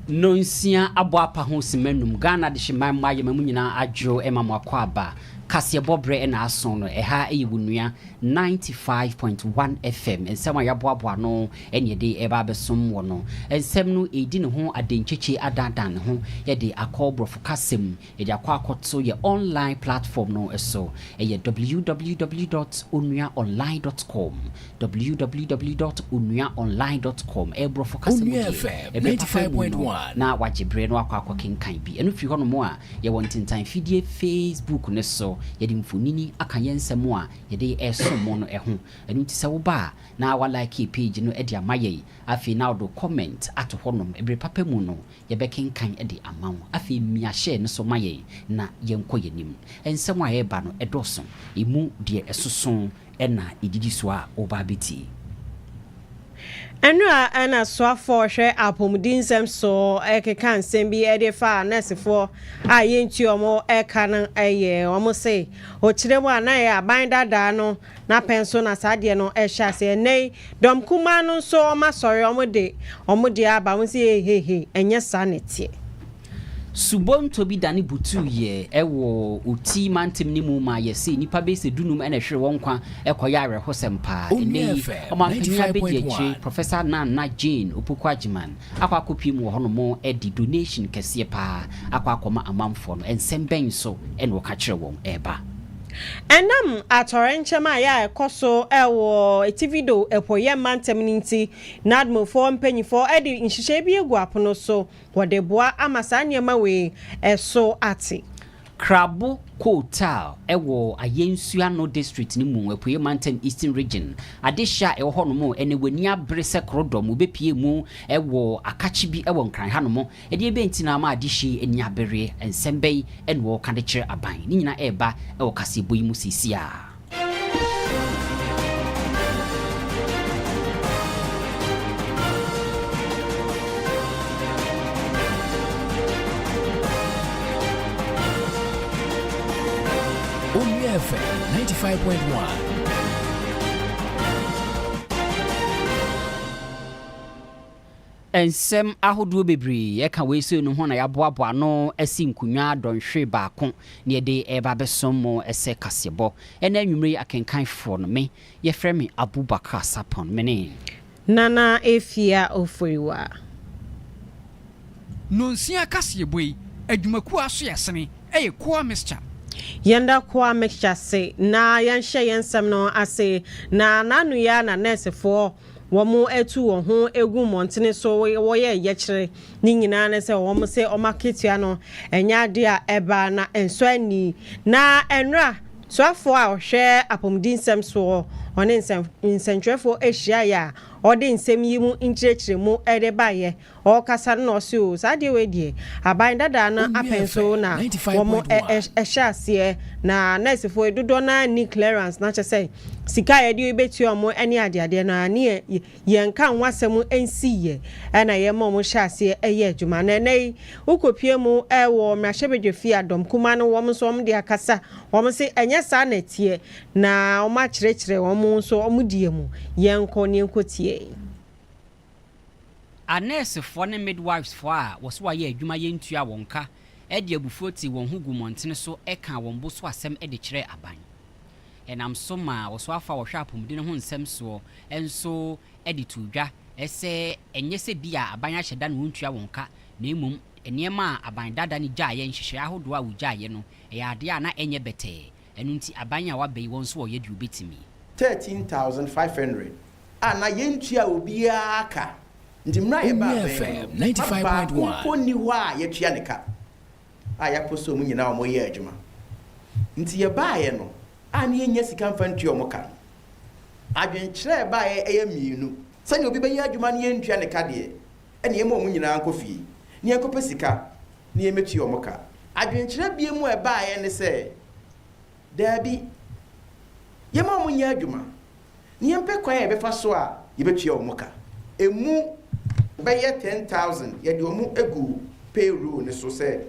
Nnɔnsia abɔ apa ho simma nnum. Ghana adehyeman mma yɛma mu nyinaa adwo ma mo akɔ aba. Kaseɛbɔ berɛ na aso no. Ɛha yɛ wo nua 95.1 FM. Nsɛm a yɛaboaboa ano ne yɛde reba abɛsom wɔ no. Nsɛm no redi ne ho adenkyekyɛ adaadaa ne ho de akɔ borɔfo kasa mu. Yɛde akɔ akɔto yɛ online platform no so, ɛyɛ www dot onua online dot com, www dot onua online dot com, ɛyɛ borɔfo kasa mu deɛ, ɛbɛ papa mu no na wagye berɛ na wakɔ akɔkenkan bi. Ɛno firi hɔnom a, yɛwɔ ntentan fidie facebook no so, yɛde mfonini aka yɛn nsɛm a yɛde resom mo no ho. Ɛno nti sɛ woba a, na wa like page no de ama yɛn, afei na wode wo comment ato hɔnom, ɛberɛ papa mu no Yɛbɛkenkan de ama wo. Afei mia share no so ma yɛn na yɛnkɔ yɛn anim. Nsɛm a ɛreba no, ɛdɔɔso. Ɛmu deɛ ɛsoso na ɛdidi so a woreba abɛtie. Nnora ne asoafoɔ a wɔhwɛ apɔmudinsɛm so rekeka nsɛm bi de refa nɛɛsefoɔ a yɛntua wɔn ka no yɛ. Wɔse, ɔkyerɛ mu a na ɛyɛ aban dadaa no N'apɛn so na saa adeɛ no rehyɛ aseɛ. Ɛnnɛ yi, dɔm kumaa no nso wɔasɔre, wɔde wɔn deɛ aba. Wo se hehehe, ɛnyɛ saa na ɛteɛ. Subonto bi dane butuuɛ wɔ Oti mantam no mu ma yɛse nnipa bɛyi sɛ dunum na ɛhwere wɔn nkwa kɔyɛ awerɛhosɛm paa. Ɛnnɛ yi, ɔmanpanin abɛdi akyire, Professor Nanna Jane Opoku Agyeman akɔ akɔpue mu wɔ hɔnom de donation kɛseɛ paa akɔ akɔma amanfoɔ no. Nsɛm bɛn nso na wɔka kyerɛ wɔn ɛreba? Ɛnam atɔwrɛnkyɛm a ɛyɛ a ɛkɔ so wɔ atifi do apueɛ mantam no nti, Nadmofoɔ mpanimfoɔ de nhyehyɛe bi agu apono so wɔde boa ama saa nneɛma wei so ate. Krabo Kotal wɔ Ayɛnsuano District no mu, Apueɛ Mantam, Eastern Region. Adehyeɛ a ɛwɔ hɔnom ɛnnɛ, w'ani abere sɛ korodɔm, wobɛpue mu wɔ akakye bi wɔ Nkran hanom Ɛdeɛbɛn nti na ama adehye ani abereɛ? Nsɛm bɛn na wɔreka de kyerɛ aban? Ne nyinaa reba wɔ kaseɛbɔ yi mu seesei ara. Owia FM 95.1. Nsɛm ahodoɔ bebree ka weisei no ho na yɛaboaboa ano asi nkonnwa dɔnhwere baako na yɛde reba abɛsom mo sɛ kaseɛbɔ. Ɛnnɛ anwumerɛ yi akenkanfoɔ no, me, yɛfrɛ me Abubakar Sarpong. Me ne. Nana Afia Oforiwa. Nnɔnsia kaseɛbɔ yi, adwumakuo a aso yɛ sene yɛ Koa Mixture. Yɛnda Koa Mixture ase na yɛnhyɛ yɛn nsɛm no ase na n'anoyɛ ara na nɛɛsefoɔ wɔatu wɔn ho agu mmɔntene so wɔyɛ yɛkyerɛ, ne nyinaa ne sɛ wɔn se wɔn akatua no nyɛ adeɛ a ɛba na ɛnsɔ ani. Na ɛnora soafoɔ a ɔhwɛ apɔmudinsɛm soɔ ɔne nsɛntwerɛfoɔ hyiaeɛ a ɔde nsɛm yi mu nkyerɛkyerɛmu de baeɛ Ɔrekasa no na ɔse oo saa adeɛ wei deɛ aban dadaa no apɛn so na wɔn ɛhyɛ aseɛ na nɛɛsefoɔ yi dodoɔ no ara nni clearance na kyɛ sɛ sika a yɛde bɛtua wɔn ne adeadeɛ no ara ne yɛnka ho asɛm nsiiɛ ɛna yɛma wɔn hyɛ aseɛ yɛ adwuma na ɛnɛ yi wokɔpue mu wɔ mmarahyɛbadwafie a Dɔmkumaa no wɔn nso wɔn de akasa wɔn se ɛnyɛ saa na ɛteɛ na wɔakyerɛkyerɛ wɔn nso wɔn deɛ mu yɛnkɔ ne yɛnkɔtie. Anɛɛsefoɔ ne midwifefoɔ a wɔse wɔayɛ adwuma yɛntua wɔn ka de abufuo tee wɔn ho guu mmɔntene so kaa wɔn bo so asɛm de kyerɛɛ aban. Ɛnam so maa ɔsoafoɔ a ɔhwɛ apɔmuden no ho nsɛm soɔ nso de too dwa sɛ ɛnyɛ sɛ bi a aban ahyɛ da na wɔntua wɔn ka na mmom nneɛma a aban dada no gyaeɛ, nhyehyɛeɛ ahodoɔ a wɔgyaeɛ no, ɛyɛ adeɛ a na ɛnyɛ bɛtɛɛ Ɛno nti aban a waba yi wɔn nso wɔyɛ deɛ wɔbɛtumi. Thirteen thousand five hundred a na yɛntua obiara ka nti mmerɛ a yɛbaa bɛn no no ma baako mpo nni hɔ a yɛatua ne ka a yɛapo sɛ wɔn nyinaa wɔyɛ adwuma nti yɛbaeɛ no a na yɛnnya sika mfa ntua wɔn ka no adwenkyerɛ a ɛbaeɛ yɛ mmienu sɛdeɛ obi bɛyɛ adwuma na yɛntua ne ka deɛ na yɛmma wɔn nyinaa nkɔ fie na yɛnkɔpɛ sika na yɛmmɛtua wɔn ka. Adwenkyerɛ binom a ɛbaeɛ ne sɛ, Daabi, yɛmma wɔn nyɛ adwuma na yɛmpɛ kwan a yɛbɛfa so a yɛbɛtua wɔn ka. Ɛmu bɛyɛ 10,000 yɛde wɔn agu payroll no so sɛ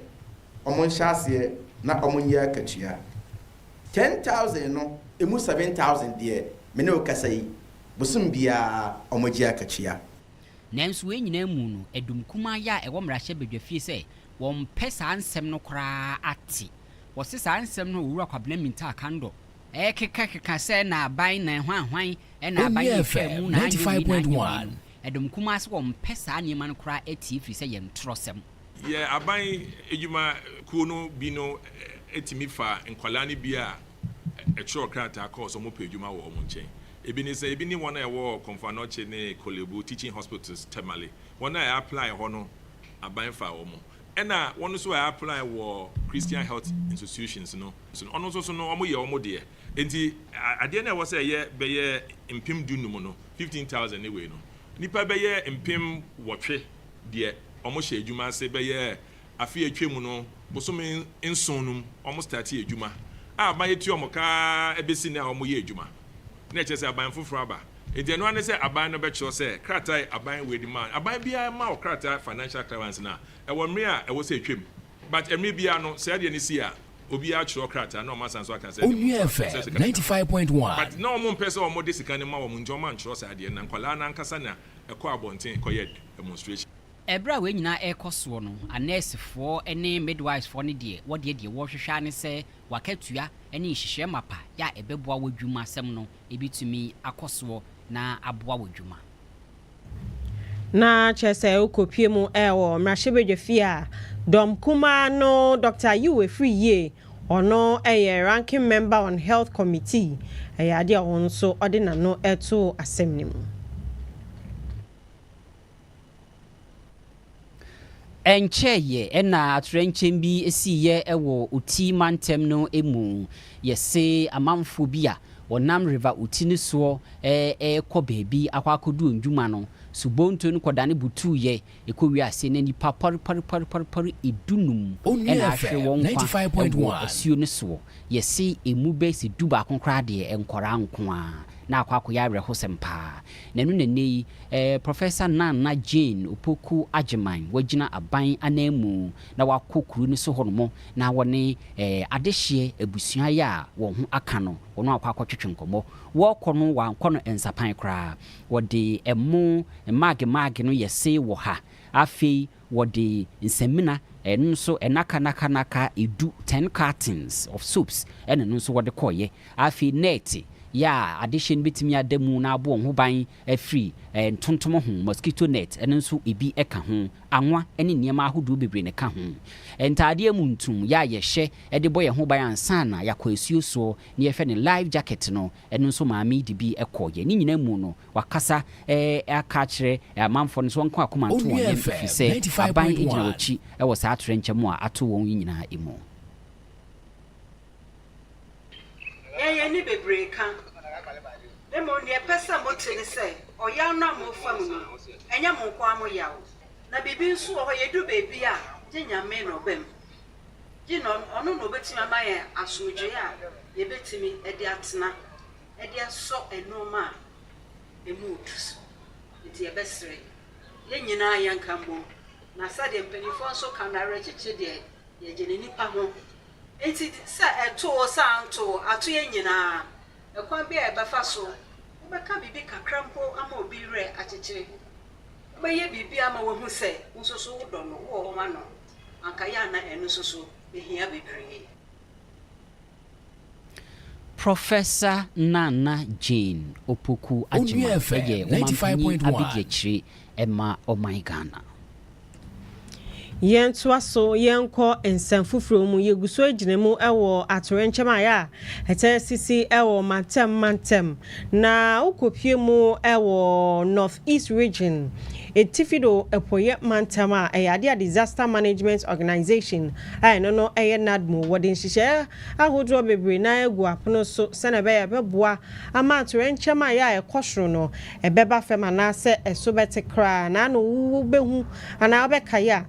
wɔnhyɛ aseɛ na wɔnyɛ akatua. 10,000 no ɛmu 7,000 deɛ, me ne wo kasa yi, bosome biara wɔgye akatua. Nanso wei nyinaa mu no, ɛdɔm kumaa yi a ɛwɔ mmarahyɛ badwa fie sɛ wɔmpɛ saa nsɛm no koraa ate. Wɔse saa nsɛm no a Owura Kwabena Mintah Kandor ɛrekekakeka sɛ na aban na hwanhwan na aban na ɛtwaa mu na anyɛ wei na anyɛ wei no, ɛdɔm kumaa se wɔmpɛ saa nneɛma no koraa atie efiri sɛ yɛ ntorɔsɛm. Yɛ aban adwuma kuo no bi no tumi fa nkwadaa no bi a ɛtwerɛ krataa kɔɔ sɛ wɔpɛ adwuma wɔ wɔn nkyɛn Ebi ne sɛ, ebi ne wɔn a ɛwɔ Komfanoche ne Kolebu Teaching Hospitals, Tamale. Wɔn a wɔaplai hɔ no, aban faa wɔn. Ɛnna wɔn nso a wɔaplai wɔ Christian Health Institutions no nso no, wɔn nso so no, wɔyɛ wɔn deɛ. Enti adeɛ no a ɛwɔ sɛ ɛyɛ bɛyɛ mpem du-nnum no, fifteen thousand ne wei no, nnipa bɛyɛ mpem nwɔtwe deɛ wɔhyɛ adwuma ase bɛyɛ afe a atwa mu no bosome nson no mu wɔn startee adwuma a aban atua wɔn ka ara bɛsi nnɛ a wɔn yɛ adwuma na ɛkyerɛ sɛ aban foforɔ aba nti ɛno ara ne sɛ aban no bɛkyerɛ sɛ krataa aban wei de maa aban biara ma wɔ krataa financial clearance no a ɛwɔ mmere a ɛwɔ sɛ atwam but mmere biara no sɛ ɛdeɛ no si a obiara kyerɛ krataa na wɔn asan so aka sɛ ɛde Onua wɔn sɛ FM sika ninety five point one. but na wɔn mpɛ sɛ wɔn de sika no ma wɔn nti wɔn ankyerɛ saa adeɛ no na nkwadaa no ankasa na ɛkɔ abɔnten kɔyɛ demonstration. Ɛberɛ a wei nyinaa rekɔ soɔ no, anɛɛsefoɔ ne midwifefoɔ no deɛ, wɔdeɛ deɛ wɔrehwehwɛ ara ne sɛ w'akatua ne nhyehyɛɛ mapa yɛ a ɛbɛboa w'adwuma sɛm no bɛtumi akɔ soɔ na aboa w'adwuma. Na kyerɛ sɛ wokɔpue mu wɔ mmarahyɛbadwafie a dɔm kumaa no Dɔkta Yiw Afiri Yie, ɔno yɛ Ranking Member on Health Committee, ɛyɛ adeɛ a ɔno nso ɔde n'ano too asɛm no mu. Ɛnkyɛeɛ na atoyerɛnkyɛm bi siiɛ wɔ Uti mantam no mu. Yɛse amanfoɔ bi a wɔnam River Uti no soɔ rekɔ baabi akɔ akɔdi wɔn dwuma no, subonto no kɔdane butuuɛ. Ɛkɔwiee aseɛ no nnipa pɔrepɔrepɔrepɔre dunum na ahwere wɔn nkwa wɔ asuo no soɔ. Yɛse ɛmu bɛyɛ sɛ dubaako koraa deɛ nkwadaa nko ara. Na akɔ akɔyɛ awerɛhosɛm pa ara. Na ɛno na ɛnnɛ yi eh, Professor Nana Jane Opoku Agyemang wagyina aban ananmu na wakɔ kuru no so hɔ nom na wɔne eh, adehyeɛ abusua yi a wɔn ho aka no wɔn akɔ akɔtwetwe nkɔmmɔ. Wɔrekɔ no wɔankɔ no nsapan koraa. Wɔde ɛmo mmaage mmaage no yɛ see wɔ ha. Afei Wɔde nsamina, ɛno nso nnaka naka nnaka edu, ten cartons of soaps, ɛna ɛno nso wɔde kɔeɛ. Afei nɛɛte yɛ a adehyeɛ no bɛtumi ada mu na abɔ wɔn ho ban afiri ntontom ho, mosquito net, ɛno nso ebi ka ho. Anwa ne nneɛma ahodoɔ bebree na ɛka ho. Ntaadeɛ mu ntum yɛ a yɛhyɛ de bɔ yɛn ho ban ansa na yɛakɔ asuo soɔ ne yɛhwɛ no, life jacket no, ɛno nso maame yi de bi kɔeɛ. Ne nyinaa mu no, Wakasa aka akyerɛ amanfoɔ no sɛ wɔnka wɔn akoma nto wɔn yam ɛfiri sɛ aban gyina wɔn akyi wɔ saa atoyerɛnkyɛm a ato wɔn yi nyinaa mu. Nea yɛn ani bebree ka, mmom nea ɛpɛ sɛ mote ne sɛ ɔyaw no a morefa mu no, ɛnyɛ mo nko ara mo yaw. Na biribi nso wɔ hɔ, yɛduru baabi a, gye Nyame na ɔba mu. Gye no, ɔno na ɔbɛtumi ama yɛn asomdwoeɛ a yɛbɛtumi de atena. de asɔ nnoɔma a ɛmu retu so. Enti yɛbɛsrɛ, yɛn nyinaa yɛnka mmom, na sɛdeɛ mpanimfoɔ nso ka no, awerɛkyekye deɛ yɛgye no nnipa ho. Enti sɛ ɛto wo, sɛ anto wo, ato yɛn nyinaa. Ɛkwan biara a yɛbɛfa so, wobɛka biribi kakra mpo ama obi werɛ akyekye, wobɛyɛ biribi ama wahu sɛ wo nso so wodɔ no, wowɔ hɔ ma no, anka yɛ a na ɛno nso so bɛhia bebree. Professor Nana Jane Opoku Agyemang yɛ Ɔmampanyin Abadiakyire ma Ɔman Ghana. Yɛntoa so yɛnkɔ nsɛm foforɔ mu. Yɛgu so gyina mu wɔ atoyerɛnkyɛm a ɛyɛ a ɛtaa sisi wɔ mantam mantam Na wokopue mu wɔ North East Region, Atifi do Epueiɛ Mantam a ɛyɛ ade a Disaster Management Organization a ɛno no yɛ NADMO. Wɔde nhyehyɛe ahodoɔ bebree no ara agu apono so sɛnea ɛbɛyɛ a ɛbɛboa ama atoyerɛnkyɛm a ɛyɛ a ɛkɔ soro no ɛbɛba fam anaasɛ ɛso bɛte koraa. Na ano wobɛhu anaa wobɛkae a,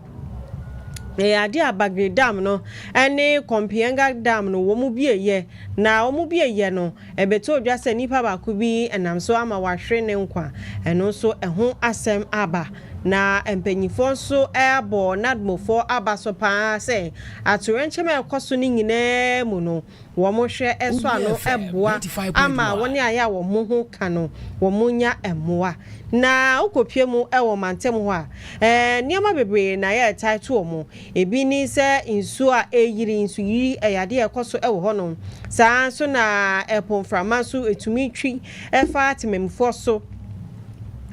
ɛyɛ ade a Bagre Dam no ne Kompienga Dam no wɔbueeɛ, na wɔbueeɛ no, Ɛbɛtoo dwa sɛ nipa baako bi nam so ama wɔahwere ne nkwa. Ɛno nso ɛho asɛm aba. Na mpanyimfoɔ nso abɔ Nadmofoɔ aba so pa ara sɛ atoyerɛnkyɛm a ɛkɔ so no nyinaa mu no, wɔhwɛ so ano boa ama wɔn a ɛyɛ a wɔn ho ka no, wɔnya mmoa. Na wokɔpue mu wɔ mantam hɔ a, nneɛma bebree na ɛyɛ a ɛtaa to wɔn. Ebi ne sɛ nsuo a ɛreyiri, nsuyiri, ɛyɛ adeɛ a ɛkɔ so wɔ hɔnom. Saa ara nso na ɛpo mframa nso tumi twi fa temanmufoɔ so.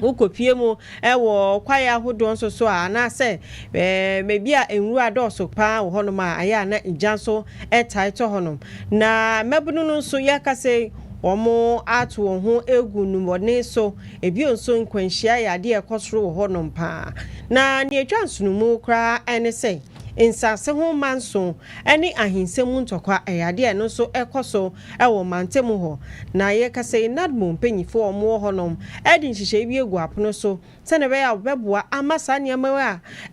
Wokɔpue mu wɔ kwaeɛ ahodoɔ nso so a, anaasɛ baabi a nwura dɔɔso pa ara wɔ hɔnom a, ɛyɛ a na gya nso taa tɔ hɔnom. Na mmabunu no nso, yɛkasa yi, wɔato wɔn ho agu nnubɔne so. Bio nso, nkwanhyia yɛ adeɛ a ɛkɔ soro wɔ hɔnom pa ara, na nea ɛtwa nsonomu koraa ne sɛ, nsase ho manso ne ahinsɛm mu ntɔkwa yɛ adeɛ a ɛno nso ɛkɔ so wɔ mantam mu hɔ. Na yɛrekasa yi, NADMO mpanimfoɔ a wɔwɔ hɔnom de nhyehyɛe bi agu apono so sɛdeɛ ɛbɛyɛ a wɔbɛboa ama saa nneɛma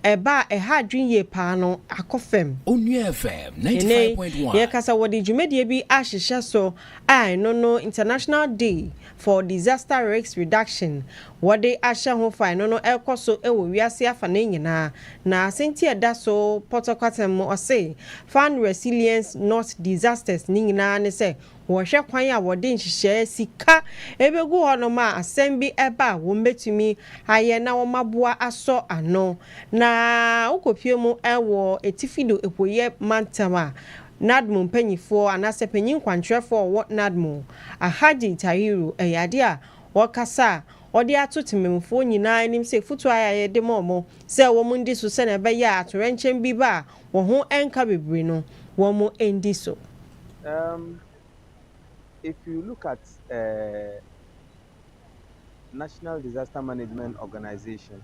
yi a ɛba a ɛha adwene yie pa ara no akɔ fam. Onua FM ninety Ɛnnɛ yi, five point one. yɛrekasa wɔde dwumadie bi ahyehyɛ so a ɛno no International Day for Disaster Risk Reduction wɔde ahyɛ ho fae no no rekɔ so wɔ wiase afanee nyinaa, na asɛnti a ɛda so pɔtɔkwatɛm mu ɔse Fund Resilience Not Disasters no nyinaa ne sɛ wɔhwɛ kwan a wɔde nhyehyɛɛ sika begu hɔnom a asɛm bi ba a wɔbetumi ayɛ na wɔaboa asɔ ano. Na wokopue mu wɔ Atifido Apueɛ Mantam a, NADH mu mpanyifoɔ anaasɛ panyin kwankyerɛfoɔ a ɔwɔ NADH mu, Alhaji Tahiru, ɛyɛ adeɛ a ɔkasa a ɔde ato temamufoɔ nyinaa anim sɛ afutuo a yɛde ma wɔn sɛ wɔn ndi so sɛnea ɛbɛyɛ a atoyerɛnkyɛm bi ba a wɔn ho nka bebree no wɔn ndi so. Um if you look at eh National Disaster Management Organization.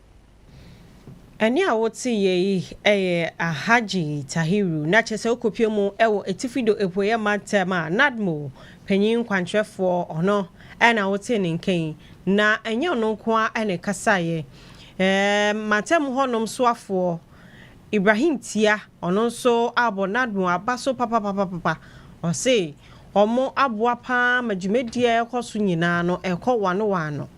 Ɛnne a woteeɛ yi yɛ Alhaji Tahiru, na kyerɛ sɛ wokɔpue mu wɔ Atifi do Apueɛ Mantam a Nadmo panyin nkwankyerɛfoɔ ɔno na wotee ne nka yi, na ɛnyɛ ɔno nko ara na ɛkasaeɛ. Ɛɛm mantam hɔnom soafoɔ Ibrahim Tia, ɔno nso abɔ Nadmo aba so papapapapa. Ɔse wɔaboa pa ara ma dwumadie a ɛrekɔ so nyinaa no rekɔ wɔano wɔano.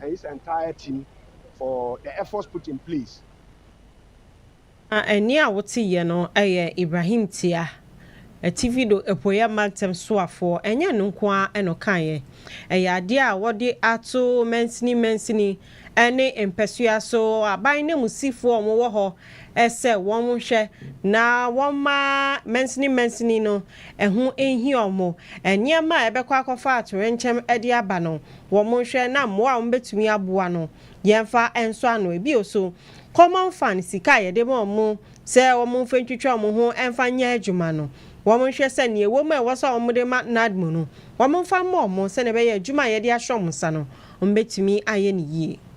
and his entire team for the efforts put in place. Na ɛnne a woteeɛ no yɛ Ibrahim Tia, Ativido Apueeɛ Mantam soafoɔ. Ɛnyɛ ɛno nko ara na ɔkaeɛ, ɛyɛ adeɛ a wɔde ato mansini mansini ne mpasua so, aban nanmusifoɔ a wɔwɔ hɔ sɛ wɔnhwɛ na wɔmma mansini mansini no ho nhia wɔn. Nneɛma a ɛbɛkɔ akɔfa atoyerɛnkyɛm de aba no, Wɔnhwɛ na mmoa a wɔbɛtumi aboa no, yɛmfa nsɔ ano. Ebia oso Common Fund sika a yɛde ma wɔn sɛ wɔmfa ntwitwa wɔn ho mfa nyɛ adwuma no. Wɔnhwɛ sɛ nea ɛwɔ mu a ɛwɔ sɛ wɔde ma NADMO no, wɔmfa mma wɔn sɛnea ɛbɛyɛ a adwuma a yɛde ahyɛ wɔn nsa no, wɔbɛtumi ayɛ no yie.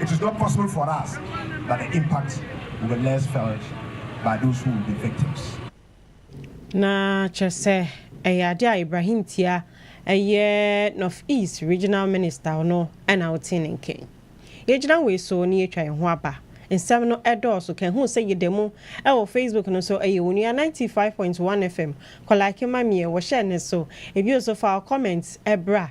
it is not possible for us but the impact will be less felt by those who will be victims. Na kyerɛ sɛ ɛyɛ ade a Ibrahim Tia ɛyɛ North East Regional Minister no na ɔtee ne nka yi. Yɛgyina wei so na yɛatwa yɛn ho aba. Nsɛm no dɔɔso ka hu sɛ yɛda mu wɔ Facebook no so ɛyɛ onua 95.1 FM kɔ like ma meɛ wɔhyɛ ne so ebio so file comments bra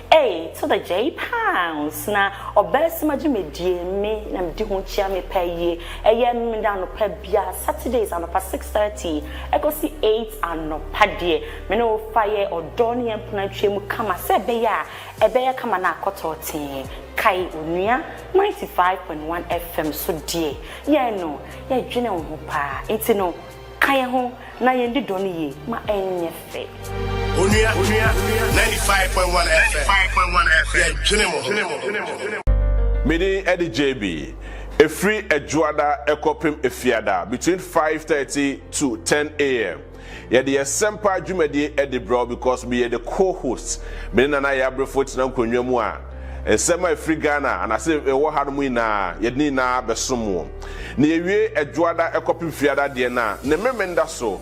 Ei to the J pounds na ɔbɛɛsɛm agye me die me na medi ho kyia me pɛ yie ɛyɛ me na anɔpa bia Saturdays anɔpa six thirty ɛkɔsi eight anɔpa deɛ me ne wo fa yɛ ɔdɔ ne yɛn mpena ntwea mu kama sɛ ɛbɛyɛ a ɛbɛyɛ kama na akɔ tɔɔtee kae onua ninety five point one FM so deɛ yɛn no yɛdwene wo ho paa nti no Ka yɛn ho na yɛn di dɔ no yie ma ɛnyɛ fɛ. Onua, onua, onua, ninety five point one FM, ninety five point one FM, yɛ dwene mo, dwene mo, dwene mo, dwene mo. Medin ɛde JB, ɛfiri Adwuada ɛkɔpem Afiada, between five thirty to ten AM. Yɛde yɛ sɛmpa dwumadie ɛde brɛ wo because meyɛ the co host. Me ne Nana Yabrefo tena nkonnwa mu a, nsɛm a ɛfiri Ghana anase ɛwɔ ha nom nyinaa yɛde ne nyinaa bɛsom wo. Na yɛwiee Adwoada kɔpem Fiada deɛ na ne Memenda so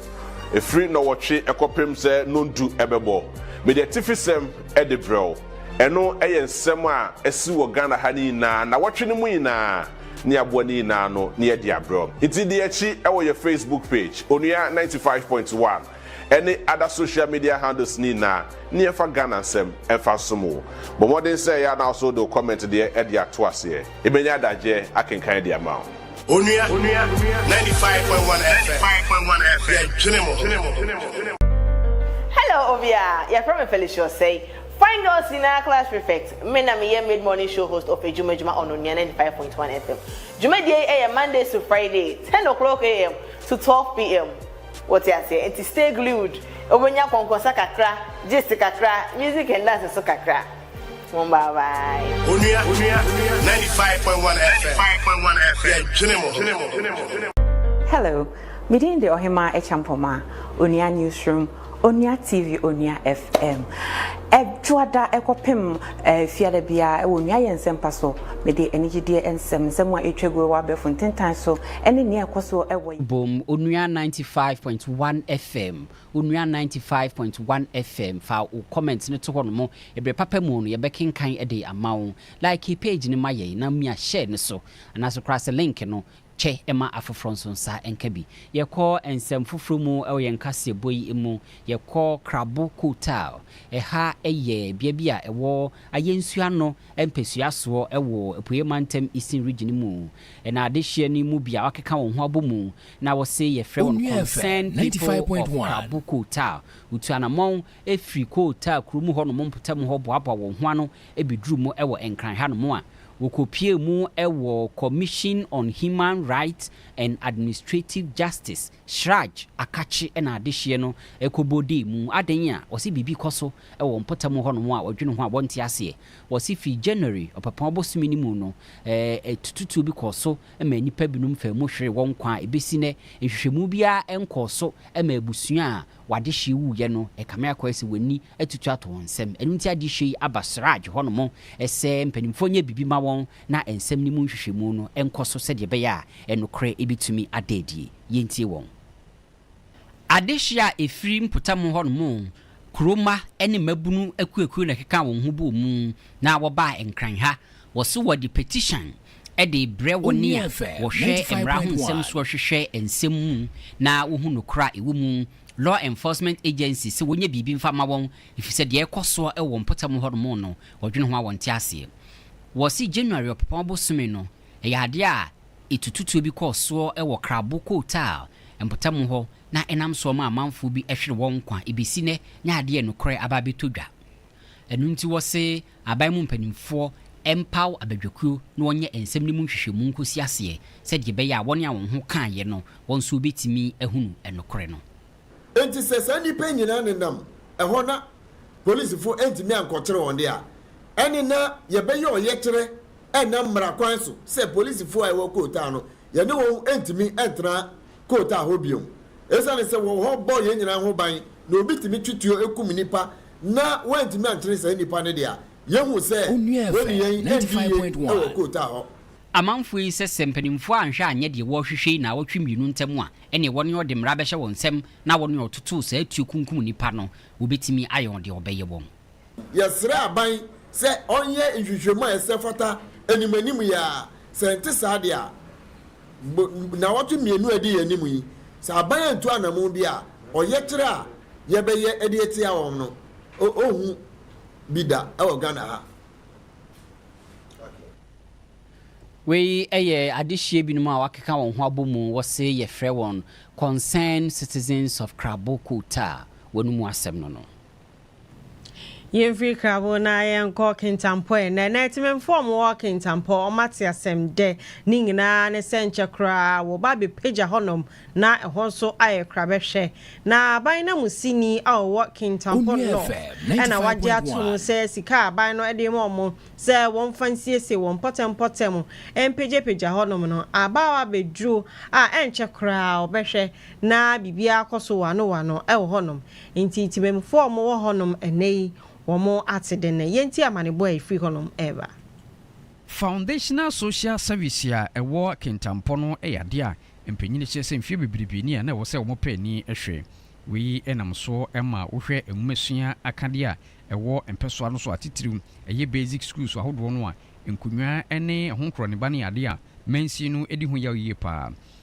firi Nnɔwɔtwe kɔpem sɛ Nnɔndu bɛbɔ. Mede atifisɛm de brɛ wo. Ɛno yɛ nsɛm a asi wɔ Ghana ha no nyinaa nnawɔtwe no mu nyinaa ne aboa no nyinaa no na yɛde abrɛ wo. Nti di yɛn akyi wɔ yɛn Facebook page, Onua ninety five point one. ɛne ada social media handles no nyinaa ne yɛmfa Ghana nsɛm mfa nsom wo. Bɔ mmɔden sɛ ɛyɛ a na wo nso wode wo comment deɛ de ato aseɛ. Yɛbɛnya adagyeɛ akenkan de ama wo. Onua, ninety five point one FM, yɛdwene mo ho. Hello obiaa, yɛfrɛ me Felicia Osei, Fine Girls nyinaa class prefect, me na meyɛ mid morning show host of Adwuma Adwuma on Onua ninety five point one FM. Dwumadie yi yɛ Mondays to Friday, ten o'clock AM to twelve PM. Wote aseɛ? Enti stay glued. Wobɛnya kɔnkɔnsa kakra, gist kakra, music and dance nso kakra. Home bye bye. Onua, 95.1 FM, yɛdwene mo ho. Hello, me din de Ɔhemaa Acheampong Maa, Onua Newsroom, Onua TV, Onua FM. Ɛdwoada ɛkɔpem fiada biara ɛwɔ Onua Yɛ Nsɛmpa so. Mede anigyedeɛ nsɛm, nsɛm a ɛtwa guo wɔ abɛɛfo ntentan so, ɛne nea ɛkɔ soɔ ɛwɔ. Bom, Onua ninety five point one FM, Onua ninety five point one FM. Fa wo comment no to hɔ nom. Ɛberɛ papa mu no, yɛbɛkenkan de ama wo. Like page no ma yɛn na mia share no so. Anaase koraa sɛ link no, kyɛ ma afoforɔ nso nsa nka bi. Yɛkɔ nsɛm foforɔ mu wɔ yɛn kaseɛbɔ yi mu, yɛkɔ Krabo Kotaal. Ɛha yɛ bea bi a ɛwɔ Ayɛnsuo ano mpasua soɔ wɔ Apueɛ Mantam Eastern Region mu. Na adehyeɛ no mu bi a wɔakeka wɔn ho abɔ mu na wɔse yɛfrɛ wɔn Concerned People of Krabo Kotaal. Wotu anammɔn firi Kootaa kurom hɔnom mpɔtam hɔ boaboa wɔn ho ano bɛduruu mu wɔ Nkran hanom a wɔkɔpuee mu wɔ Commission on Human Rights and Administrative Justice, CHRAJ, akakye na adehyeɛ no kɔbɔ dee mu. Adɛn a? Wɔse biribi kɔ so wɔ mpɔtam hɔnom a wɔdwene ho a wɔnte aseɛ. Wɔse firi January, Ɔpɛpɔn bosome no mu no, atututuo bi kɔɔ so maa nnipa binom faa mu hweree wɔn nkwa a ɛbɛsi nnɛ, nhwehwɛmu biara nkɔɔ so maa abusua a w'adehyeɛ wuiɛ no, ɛkame akɔ ayɛ sɛ w'ani atutu ato wɔn nsam. Ɛno nti adehyeɛ yi aba Siraj hɔnom sɛ mpanimfoɔ nyɛ biribi ma wɔn na nsɛm no mu nhwehwɛmu no nkɔ so sɛdeɛ ɛbɛyɛ a nokorɛ bɛtumi ada adie. Yɛntie wɔn. Adehyeɛ a ɛfiri mpɔtam hɔnom, kuro mma ne mmabunu akuakuo na ɛkekaa wɔn ho bɔɔ mu na wɔbaa Nkran ha. wɔse wɔde petition de rebrɛ wɔn a wɔhwɛ mmara ho nsɛm soɔ hwehwɛ nsɛm mu na wɔhu nokorɛ a ɛwɔ mu. Law enforcement agencies sɛ wɔnyɛ biribi mfa mma wɔn ɛfiri sɛ deɛ ɛrekɔ soɔ wɔ wɔn mpɔtam hɔ nom no wɔdwene ho a wɔnte aseɛ. Wɔse January ɔpepɔn bosome no ɛyɛ adeɛ a ɛtututuo bi kɔɔ soɔ wɔ Krabo Kootal mpɔtam hɔ na ɛnam soɔ maa amanfoɔ bi hwere wɔn nkwa. Ɛbɛsi nnɛ na adeɛ nokorɛ aba abɛtɔ dwa. Ɛno nti wɔse aban mu mpanimfoɔ mpaw abadwakuo na wɔnyɛ nsɛm no mu nhwehwɛmu nkɔsi aseɛ sɛdeɛ ɛbɛyɛ a wɔn a wɔn ho kaeɛ no wɔn nso wɔbɛtumi ahunu nokorɛ no. Enti sɛ saa nnipa yi nyinaa nenam ɛhɔ na polisifo antumi ankɔkyere wɔn de a, ɛne na yɛbɛyɛ ɔyɛkyerɛ ɛnam mmara kwan so sɛ polisifo a ɛwɔ kootaa no, yɛne wɔn ntumi ntra kootaa hɔ bio. Esiane sɛ wɔwɔ hɔ bɔ yɛn nyinaa ho ban na obi tumi twe tuo kum nnipa na wɔantumi ankyere saa nnipa no de a, yehu sɛ wɔnnuan andu yiye wɔ Kootaa hɔ. Amanfoɔ yi sɛ sɛ mpanimfoɔ anhwɛ anyɛ deɛ wɔrehwehwɛ yi nnawɔtwe mmienu ntam a, ɛneɛ wɔne ɔde mmara bɛhyɛ wɔn nsam na wɔne ɔtotoo saa tuo kunkum nnipa no, wɔbɛtumi ayɛ wɔn deɛ wɔbɛyɛ wɔn. Yɛsrɛ aban sɛ ɔnyɛ nhwehwɛmu a ɛsɛ fata anim anim yi ara, sɛ ɛnte saa deɛ a. nnawɔtwe mmienu a edi yɛn anim yi, sɛ aban antu anammɔn bi a, ɔyɛkyerɛ a yɛbɛyɛ de atia wɔn no, ohu bi da wɔ Ghana ha. Wei yɛ adehyeɛ binom a wɔakeka wɔn ho abɔ mu, wɔse yɛfrɛ wɔn Concerned Citizens of Krabokota, wɔn mu asɛm no no. Yɛnfiri Krabo na yɛnkɔ Kintampo ɛ. Nɛnɛ Temanmufoɔ a wɔwɔ Kintampo wɔate asɛm dɛ ne nyinaa ne sɛ nkyɛ koraa wɔba abɛpagya hɔnom na ɛhɔ nso ayɛ krabɛhwɛ. Na aban nanmusini a ɔwɔ Kintampo North na wagye atom sɛ sika a aban no de rema wɔn sɛ wɔmfa nsiesie wɔn mpɔtɛmpɔtɛm mpagyapagya hɔnom no aba hɔ abɛduru a ɛnkyɛ koraa wɔbɛhwɛ na biribiara akɔ so wɔanowɔano wɔ hɔnom. Enti Temamufoɔ a wɔwɔ hɔnom ɛnnɛ yi, wɔn ate dɛn na yɛntie amanebɔ a ɛfiri hɔnom reba. Foundational Social Service a ɛwɔ Kintampo no yɛ adeɛ a mpanin kyerɛ sɛ mfeɛ bebrebe ni a na ɛwɔ sɛ wɔn pɛ ani hwɛ. Wei nam so ma wohwɛ nwomasua akadeɛ a ɛwɔ mpɛsoa no so a titiriw ɛyɛ basic schools ahodoɔ no a nkonnwa ne ɛho nkorɔneba no yɛ adeɛ a mansin no di ho yaw yie pa ara.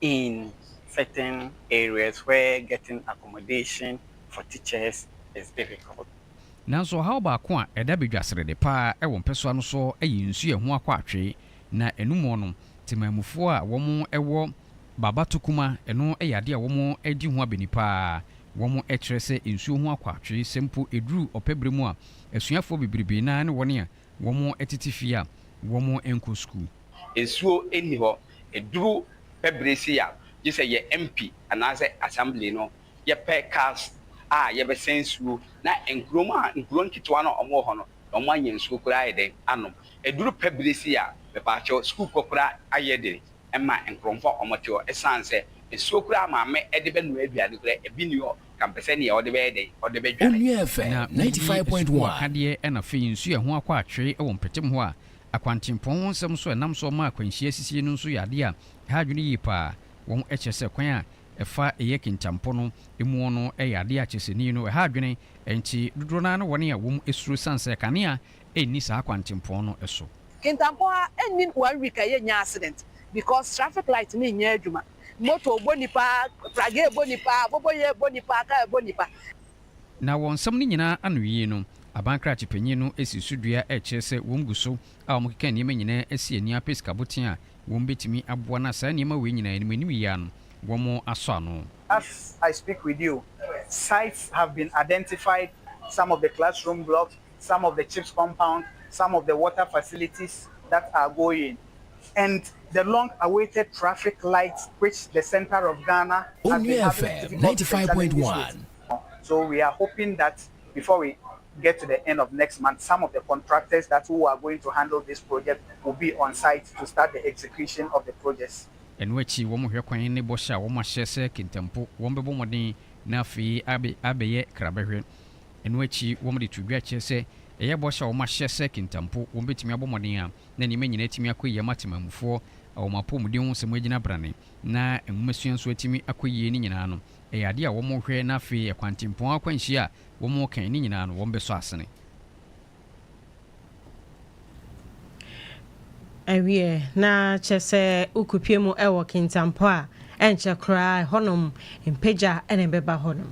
in certain areas where getting accommodation for teachers is difficult. Nanso ɔhaw baako a ɛda badwaserede paa wɔ mpɛsoa no so yɛ nsu a ɛho akɔ atwe, na ɛno mu no, temammufoɔ a wɔwɔ baba tokuma, ɛno yɛ adeɛ a wɔadi ho abani paa. Wɔkyerɛ sɛ nsuo ho akɔ atwe, sɛ mpo ɛduru ɔpɛ berɛ mu a, asuafoɔ bebrebe no ara ne wɔn a wɔtete fie a wɔnkɔ sukuu. nsuo nni hɔ. Ɛduru pɛ bere sei a, gye sɛ yɛ MP anaasɛ Assembly no yɛpɛ cars a yɛbɛsɛn nsuo na nkurom a nkuro nketewa no a wɔwɔ hɔ no na wɔanya nsuo koraa ayɛ dɛn anom. Ɛduru pɛ bere sei a, mepaakyɛw, sukuukɔ koraa ayɛ den ma nkuromfo a wɔte hɔ ɛsiane sɛ nsuo koraa maame de bɛnoa aduane koraa ebi nni hɔ ka mpɛ sɛ nea ɔde bɛyɛ dɛn, ɔde bɛdware. Onua FM ninety five point one. Asukuuakadeɛ na afei nsuo a ɛho akɔ atwee wɔ mpɛtem hɔ a Akwantempɔn ho nsɛm so a ɛnam so ma akwanhyia sisi no nso yɛ ade a ɛha adwene yie paa. Wɔn kyerɛ sɛ kwan a ɛfa ɛyɛ kintampɔ no muo no yɛ ade a kyerɛ sɛ nni no ɛha adwene, ɛnte dodoɔ no ara ne wɔn a wɔn suro sane sɛ kanea nni saa akwantempɔn no so. Kintampɔn ha nnim one week a yɛnnya accident because traffic light no nnyɛ adwuma, motor bɔ nnipa, pragee bɔ nnipa, aboboyɛɛ bɔ nnipa, car bɔ nnipa. Na wɔ nsɛm no nyinaa anowie no, aban krakye panyin no si so dua a ɛkyerɛ sɛ wɔagu so a wɔkeka nneɛma nyinaa asi ani apɛ sikaboten a wɔbetumi aboa no a saa nneɛma wei nyinaa anim anim yi ara no wɔasɔ ano. As I speak with you, sites have been identified, some of the classroom blocks some of the chips compound, some of the water facilities that are going and the long awaited traffic light which the center of Ghana has been having a difficult time challenges with. So we are hoping that before we get to the end of next month, some of the contractors that who are going to handle this project will be on site to start the execution of the projects. Ɛno akyi, wɔhwɛ kwan ne bɔhyɛ a wɔahyɛ sɛ kentanpo wɔbɛbɔ mmɔden na afei abɛyɛ krabɛhwɛ. Ɛno akyi wɔde too dwa kyerɛ sɛ ɛyɛ bɔhyɛ a wɔahyɛ sɛ kentanpo wɔbɛtumi abɔ mmɔden a na nneɛma nyinaa atumi akɔ yie ama Temanmufoɔ a wɔn apɔmuden ho nsɛm agyina brane na nwomasua nso atumi akɔ yie no nyinaa no ɛyɛ adeɛ a wɔrehwɛ na afei ɛkwantempɔn akwanhyia a wɔreka yi no nyinaa no wɔbɛsɔ asene. Ɛwiɛ, na kyerɛ sɛ wokopue mu wɔ Kintampo a, ɛnkyɛ koraa ɛhɔnom mpagya na ɛbɛba hɔnom.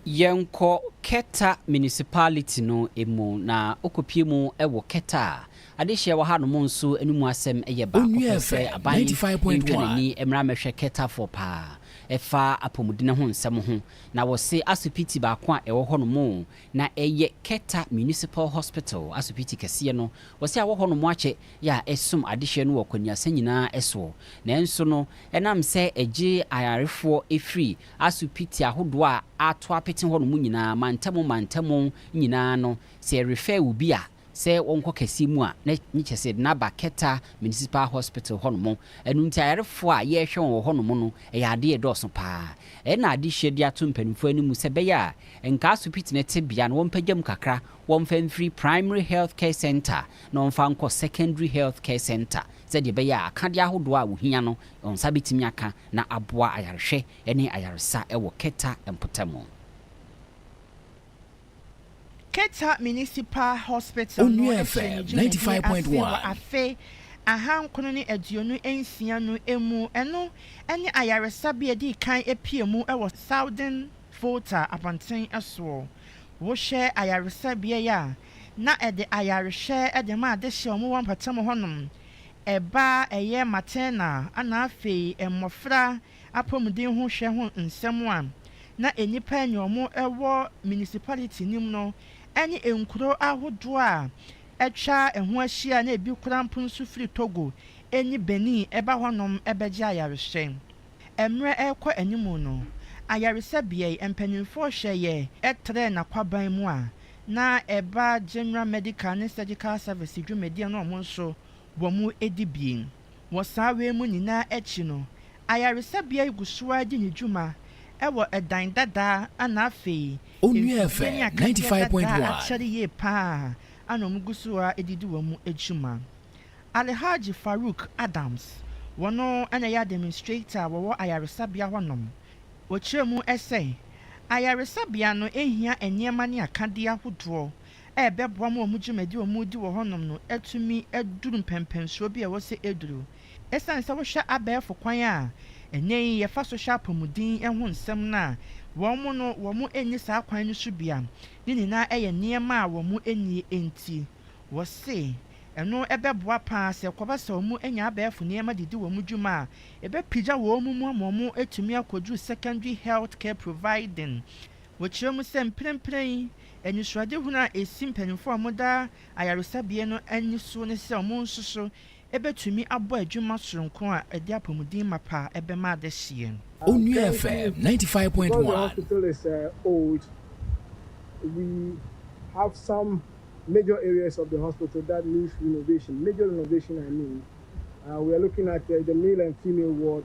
Yɛnkɔ Keta Municipality no mu, na wokopue mu wɔ Keta a, adehyeɛ wɔ hanom nso no mu asɛm yɛ baako pɛ sɛ aban ntwa n'ani mmra mmɛhwɛ Ketafoɔ paa ɛfa apɔmuden ho nsɛm ho, na wɔse asopiti baako a ɛwɔ hɔnom Na ɛyɛ Keta Municipal Hospital, asopiti kɛseɛ no, wɔse awɔ hɔ nom akyɛ yɛ a ɛsom adehyeɛ no wɔ kwaniasa nyinaa soɔ. Nanso no, ɛnam sɛ ɛgye ayarefoɔ firi asopiti ahodoɔ a ato apete hɔ nom nyinaa, mantamu mantamu nyinaa no, sɛ yɛrefɛɛ obi a, sɛ wɔnkɔ kɛseɛ mu a na nye kyɛ sɛ na ba Keta Municipal Hospital hɔ nom. Ɛno nti ayarefoɔ a yɛrehwɛ wɔn wɔ hɔ nom no ɛyɛ adeɛ a ɛdɔɔso pa ara. Ɛyɛ na adehyeɛ de ato mpanimfoɔ anim sɛ ɛbɛyɛ a nka asopiti no tebea no wɔmpagya mu kakra, wɔmfa mfiri Primary Health Care Centre na wɔmfa nkɔ Secondary Health Care Centre sɛdeɛ ɛbɛyɛ a akadeɛ ahodoɔ a wɔhia no wɔn nsa bɛtumi aka na aboa ayarehwɛ ne ayaresa wɔ Keta mpɔtamu. Keta Municipal Hospital no Onua FM firi ne ninety dwumadie five point ase wɔ one. afe ahankron ne aduonu nsia no mu. Ɛno ne ayaresabea a ɛdii kan apue mu wɔ Southern Volta abɔnten soɔ. Wohwɛ ayaresabea yi a, na ɛde ayarehwɛ de ma adehyeɛ a wɔwɔ mpɔtam hɔnom, ɛba a ɛyɛ maternal, ɛna afei mmɔfra apɔmuden ho hwɛ ho nsɛm a na nnipa a ɛne wɔn wɔ municipality no mu no ne nkuro ahodoɔ a atwa ho ahyia a na ebi koraa mpo nso firi Togo ne Benin ba hɔnom bɛgye ayarehwɛ. Mmerɛ rekɔ anim no, ayaresabea yi, mpanimfoɔ hwɛeɛ trɛɛ n'akwaban mu a na ɛba General Medical ne Surgical Service dwumadie no wɔn nso wɔn dibea. Wɔ saa wei mu nyinaa akyi no, ayaresabea yi gu so ara di ne dwuma wɔ dan dadaa na afei mfifie ne akateɛ dadaa akyɛre yie pa ara na wɔgu so ara de di wɔn dwuma. Alhaji Farouk Adams, wɔn na ɛyɛ administrator a wɔwɔ ayaresabea hɔnom, ɔkyerɛ mu sɛ, Ayaresabea no hia nneɛma ne akadeɛ ahodoɔ ɛrebɛboa ma wɔn dwumadi a wɔredi wɔ hɔnom no atumi aduru mpɛnpɛnsoɔ bi a ɛwɔ sɛ ɛduru. Ɛsiane sɛ wohwɛ abɛɛfo kwan a ɛnnɛ yi yɛfa so hwɛ apɔmuden ho nsɛm no a, wɔn no, wɔnni saa kwan no so bi a ne nyinaa yɛ nneɛma a wɔnni nti. Wɔse ɛno bɛboa pa ara sɛ ɛkɔba sɛ wɔanya abɛɛfo nneɛma de di wɔn dwuma a, ɛbɛpagya wɔn mu ama wɔatumi akɔduru secondary healthcare providing, Wɔkyerɛ mu sɛ mprempren yi, anisoadehunu a esi mpanyimfo a wɔda ayaresabea no ani so ne sɛ wɔn nso so betumi abɔ adwuma soronko a ɛde apɔmuden mapa a ɛbɛma adehyeɛ no. Onua FM ninety five point one. Because the hospital is uh, old, we have some major areas of the hospital that needs renovation. Major renovation, I mean, uh, we are looking at uh, the male and female ward.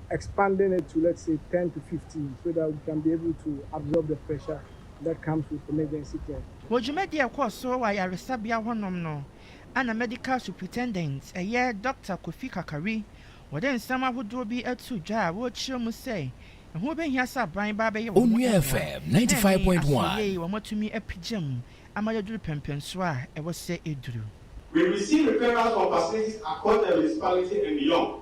expanding it to let's say ten to fifteen so that we can be able to absorb the pressure that comes with emergency care. Wɔ dwumadi a ɛkɔɔ so wɔ ayaresabea hɔnom no, ɛna Medical Superintendent, ɛyɛ Dɔkta Kofi Kakari, wɔde nsɛm ahodoɔ bi too dwa a wɔrekyerɛ mu sɛ ɛho bɛhia sɛ abran ba abɛyɛ wɔn mmoa, na ɛne asoɛyie a wɔatumi apagya mu ama yɛaduru pɛmpɛnsoɔ a ɛwɔ sɛ ɛduru. We receive referrals from facilities across the municipality and beyond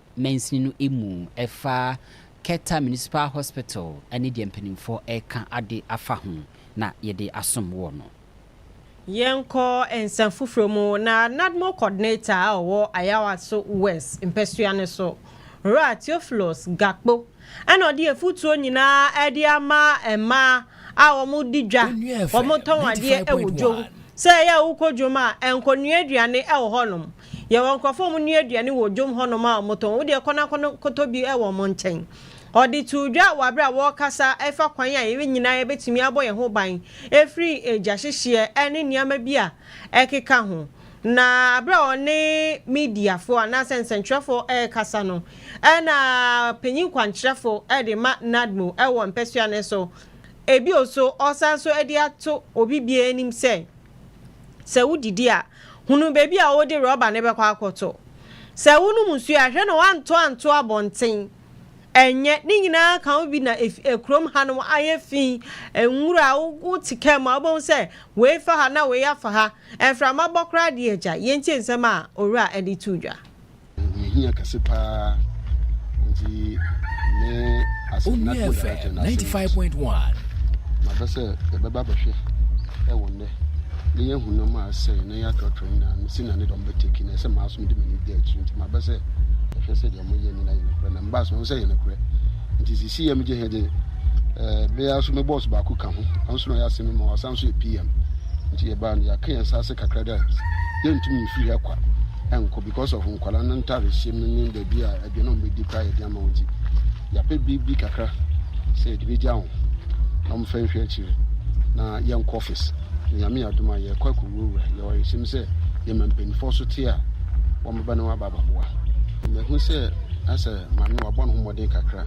mansini no mu ɛfa Keta Municipal Hospital ne deɛ mpanimfoɔ reka ade afa ho na yɛde asom woɔ no. Yɛnkɔ nsɛm foforɔ mu na NADMO Coordinator a ɔwɔ Ayawaso West mpɛsoa no so, Owura Theophilus Gakpo na ɔde afutuo nyinaa de ama mmaa a wɔdi dwa, wɔtɔn adeɛ wɔ dwom sɛ ɛyɛ a wokɔ dwom a, nkɔnoa aduane wɔ hɔnom Yɛwɔ nkurɔfoɔ a wɔn nua aduane wɔ dwom hɔ nom a wɔn tɔn. Wo deɛ kɔ na kɔtɔ bi wɔ wɔn nkyɛn. Ɔde too dwa wɔ aberɛ a wɔrekasa ɛfa kwan a yɛn nyinaa yɛbɛtumi abɔ yɛn ho ban afiri gya hyehyeɛ ɛne nneɛma bi a ɛkeka ho. Na aberɛ a ɔne mediafoɔ anaa sɛ nsɛntwerɛfoɔ ɛrekasa no ɛna panyin kwankyerɛfo ɛde ma Nadmo ɛwɔ mpɛsua no so. Ɛbio so ɔsan so ɛde ato obi biara anim sɛ sɛ wo didi a, Hunu baabi a wode rɔba no bɛkɔ akɔtɔ. Sɛ wonom nsuo a, hwɛ na woantɔ anto abɔnten. Ɛnyɛ, ne nyinaa ka ho bi na kurom hanom ayɛ fi. Nwura a wote kaa mu a wobɛhu sɛ wei fa ha na wei afa ha. Mframa bɔ koraa deɛ agya, yɛntie nsɛm a owura de too dwa. mehia kɛse paa nti me asɛnatmo director no asɛm mabɛ sɛ yɛbɛba bɛhwɛ ɛwɔ nnɛ ne yɛahu no ma asɛe na yɛatrɔtrɔ nyinaa no sɛnea ne dɔm bɛteki no ɛsɛ maa so mede m'ani da akyiri nti mabɛ sɛ ɛhwɛ sɛ deɛ moyɛ nyina yɛ nokorɛ na mbaa so ho sɛ yɛ nokorɛ nti sisi yɛ megye hɛ de bɛyɛ so me bɔs baako ka ho ɔno so na ɔyɛ asɛm no ma ɔsan so yɛ pm nti yɛbaa no yɛaka yɛn nsa ase kakra dɛ yɛntumi mfiri ha kwa nkɔ because of nkwadaa no ntare hyɛ mu ne baabi a aduane a wɔbɛdi koraa yɛde ama wɔn nti yɛapɛ biribi kakra sɛ yɛde bɛgya wɔn na wɔmfa nhwɛ akyire na yɛnkɔ office nyame adom a yɛkɔ akɔwurawura yɛwɔ awerɛhyɛm sɛ yɛma mpanimfoɔ so te a wɔbɛba na wɔaba abɛboa mahu sɛ asɛ maame wabɔ ne ho mmɔden kakra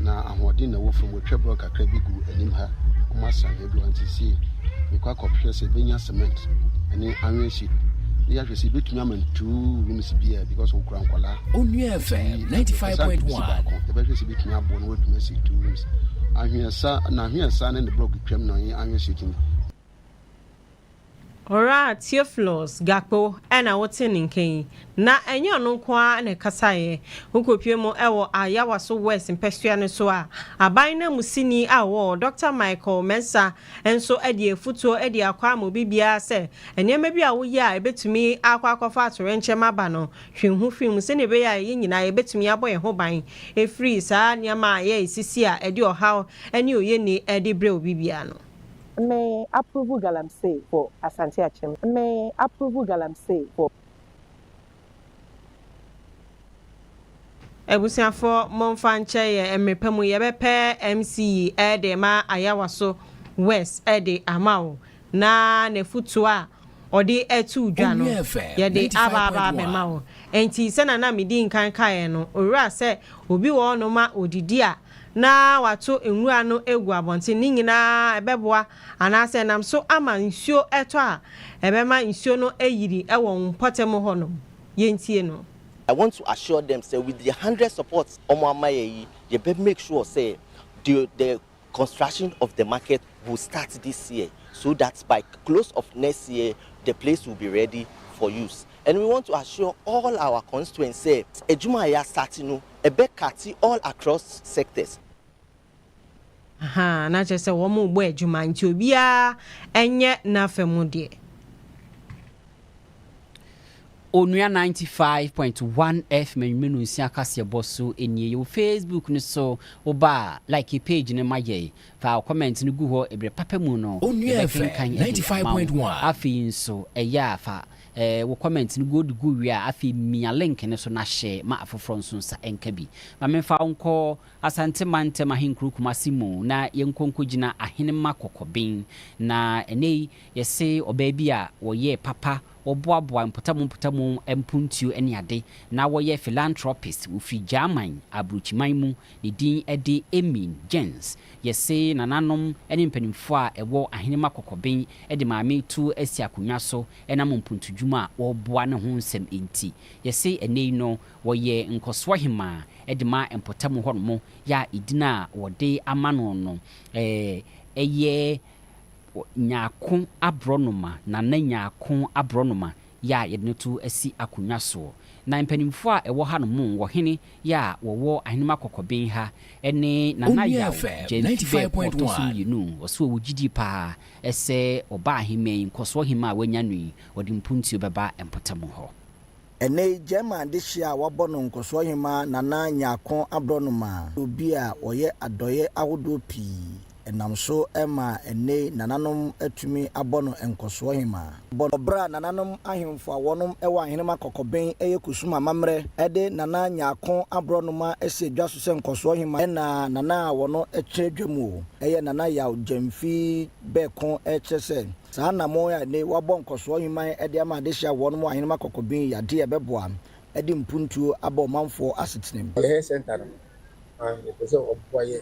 na ahoɔden na ɛwɔ fam wɔtwa borɔ kakra bi gu anim ha wɔasan baabi hɔ nti sie mekɔ akɔhwɛ sɛ ɛbɛnya cement ɛne anwea si ne yɛahwɛ sɛ yɛbɛtumi ama ntuu rooms biaa because wokura nkwadaa onua fm 95.1 baako yɛbɛhwɛ sɛ yɛbɛtumi aboɔ no wɔatumi asi two rooms ahweɛsa na ahweɛsa ne ne blɔk twam na ɔyɛ anwea si tumi Ora Theophilus Gakpo na wote ne nka yi, na ɛnyɛ ɔno nko ara na ɛkasaeɛ. Wokɔpie mu wɔ Ayawaso West mpɛsoa no so a, aban nanmusini a ɔwɔ hɔ, Dɔkta Michael Mensah nso de afutuo de akɔ ama obi biara sɛ, nneɛma bi a woyɛ a ɛbɛtumi akɔ akɔfa atoyerɛnkyɛm aba no, twe wo ho firi mu sɛdeɛ ɛbɛyɛ a yɛn nyinaa yɛbɛtumi abɔ yɛn ho ban afiri saa nneɛma a ɛyɛ sisi a ɛde ɔhaw ne oyenni de brɛ obi biara no. Me approve galamsey for Asante Akyem Me approve galamsey for. Abusuafoɔ monfa nkyɛ yɛn mmerpa mu yɛbɛpɛ MC yi de ma Ayawaso West de ama wo na nafutuo a ɔde atuu dwa no yɛde aba aba abɛma wo. Nti sɛnea na medi nkan kaeɛ no owura sɛ obi wɔ hɔnom a ɔdidi a na wɔato nwura no agu abɔnten, ne nyinaa ɛbɛboa anaasɛ ɛnam so ama nsuo ɛtɔ a ɛbɛma nsuo no ayiri wɔ mpɔtam hɔ nom. Yɛntie no. I want to assure them sɛ with the hundred support ɔmo ama yɛ yi yɛ bɛ make sure sɛ the the construction of the market will start this year so that by close of next year the place will be ready for use and we want to assure all our constituents sɛ adwuma a yɛ a start no ɛbɛ cutty all across sectors. Ahaa na kyerɛ sɛ wɔn rebɔ adwuma nti obiara nyɛ nafa mu deɛ. Onua ninety five point one F Menwmenu nsia kaseɛ bɔ so nie yɛwɔ Facebook no so wo ba a like page no ma yɛn fa wo comment no gu hɔ ɛbrɛ papa mu no Onua Efe yɛbɛkenkan de ninety five ama wo point one. afei nso ɛyɛ a fa Eh wo comment no good gu wie a afei mia link no so na share ma afoforɔ nso nsa nka bi. Ma menfa wo nkɔ Asante mantam ahenkuro Kumasi mu na yɛnkɔ nkɔgyina Ahenemma Kɔkɔben na ɛnɛ yi yɛse ɔbaa bi a wɔyɛɛ papa wɔboaboa mpɔtamu mpɔtamu mpontuo ne ade na wɔyɛ philanthropist wɔfiri Gyaman abrokyiman mu ne din de Emine Jens Yese nananom ne mpanimfoɔ a ɛwɔ Ahenemma Kɔkɔben de Maame Tu asi akonnwa so ɛnam mpuntudwuma a wɔreboa no ho nsɛm nti. Yɛse ɛnnɛ yi no wɔyɛ nkɔsoɔ hemaa de ma mpɔtam hɔnom yɛ a edin a wɔde ama no no ɛyɛ Nyarko Aborɔnoma, Nana Nyarko Aborɔnoma yɛ a yɛde no to asi akonnwa soɔ. Na mpanimfoɔ a ɛwɔ hanom wɔ hene yɛ a wɔwɔ Ahenemma Kɔkɔben ha ne Nana Yaw Gyamfi Bɛɛpo a ɔtɔ so mmienu, ɔse ɔwɔ gyidie pa ara sɛ ɔba aheman yi nkɔsoɔ hema a wanya no yi ɔde mpuntuo bɛba mpɔtam hɔ. Ɛnnɛ yi Gyɛɛma adehyeɛ a wɔabɔ no nkɔsoɔ hema Nana Nyarko Aborɔnoma yɛ obi a ɔyɛ adɔeɛ ahodoɔ pii ɛnam so maa ɛnnɛ yi nananom atumi abɔ no nkɔsoɔ hemaa. Wɔ berɛ a nananom ahemfo a wɔnom wɔ ahenema kɔkɔben yɛ kusum amammerɛ de Nana Nyarko aborɔnoma si dwa so sɛ nkɔsoɔ hemaa ɛna Nana a wɔno kyerɛ dwa mu o, ɛyɛ Nana Yaw Gyamfii Bɛɛko rekyerɛ sɛ saa anammɔn a ɛnnɛ yi wɔabɔ nkɔsoɔ heman de ama adehyeɛ a wɔnom wɔ ahenema kɔkɔben yi yɛ adeɛ a ɛbɛboa de mpuntuo aba ɔmanfoɔ asetenam. Ɔyɛɛ center no, na yɛpɛ sɛ ɔboa yɛn.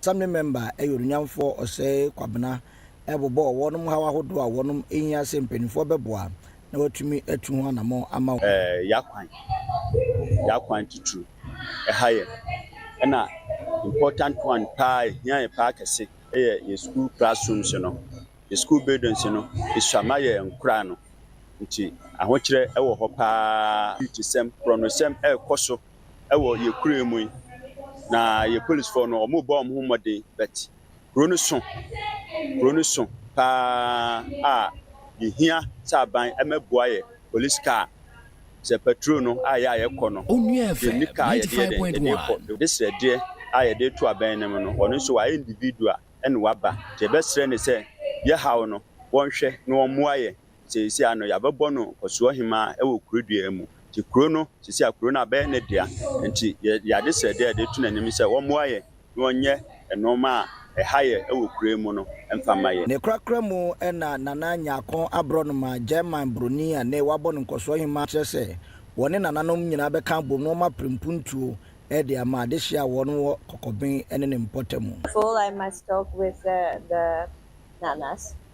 Assembly Member yɛ Onunyamfoɔ Osei Kwabena rebobɔ wɔnom haw ahodoɔ a wɔnom hia sɛ mpaninfoɔ bɛboa na wɔatumi atu ho anamɔn ama wɔn. Yɛn kwan, yɛn akwan titiriw, ɛha yɛn, ɛna important one paa, ɛhia yɛn paa kɛse yɛ yɛn sukuu classrooms no, yɛn sukuu buildings no, ɛsua ma yɛn nkoraa no, nti ahokyerɛ wɔ hɔ paa, security sɛm, korɔnosɛm ɛrekɔ so. wɔ yɛ kura mu yi na yɛ polisfoɔ no ɔmo bɔ ɔmo ho mmɔden but kuro no so kuro no so paa a yɛhia sɛ aban ɛmɛboa yɛ police car sɛ patrol no a yɛ a yɛkɔ no yɛnni car yɛde yɛ dɛn yɛde kɔ yɛde srɛdeɛ a yɛde to abɛn no mu no ɔno nso wayɛ individual ɛna waba nti yɛbɛsrɛ ne sɛ yɛ haw no wɔnhwɛ na wɔmmoa yɛ seesei ano yɛabɛbɔ no Ɔsoɔhemaa wɔ kuro dua mu nti kuro no seesei a kuro no abɛyɛ ne dea nti yɛde ade srɛdeɛ yɛde to n'anim sɛ wɔmmoa yɛn na wɔnyɛ nnoɔma a ɛha yɛ wɔ kuro yi mu no mfa ma yɛn. Ne korakora mu na Nana Nyarkon Aborɔnoma, German broni a ne wɔabɔ no Nkɔsoɔhemaa kyerɛ sɛ wɔne nananom nyinaa bɛka abom na wɔma prempuntuo de ama adehyeɛ a wɔn wɔ Kɔkɔben ne ne mpɔtamu. Fool I must talk with the Nanas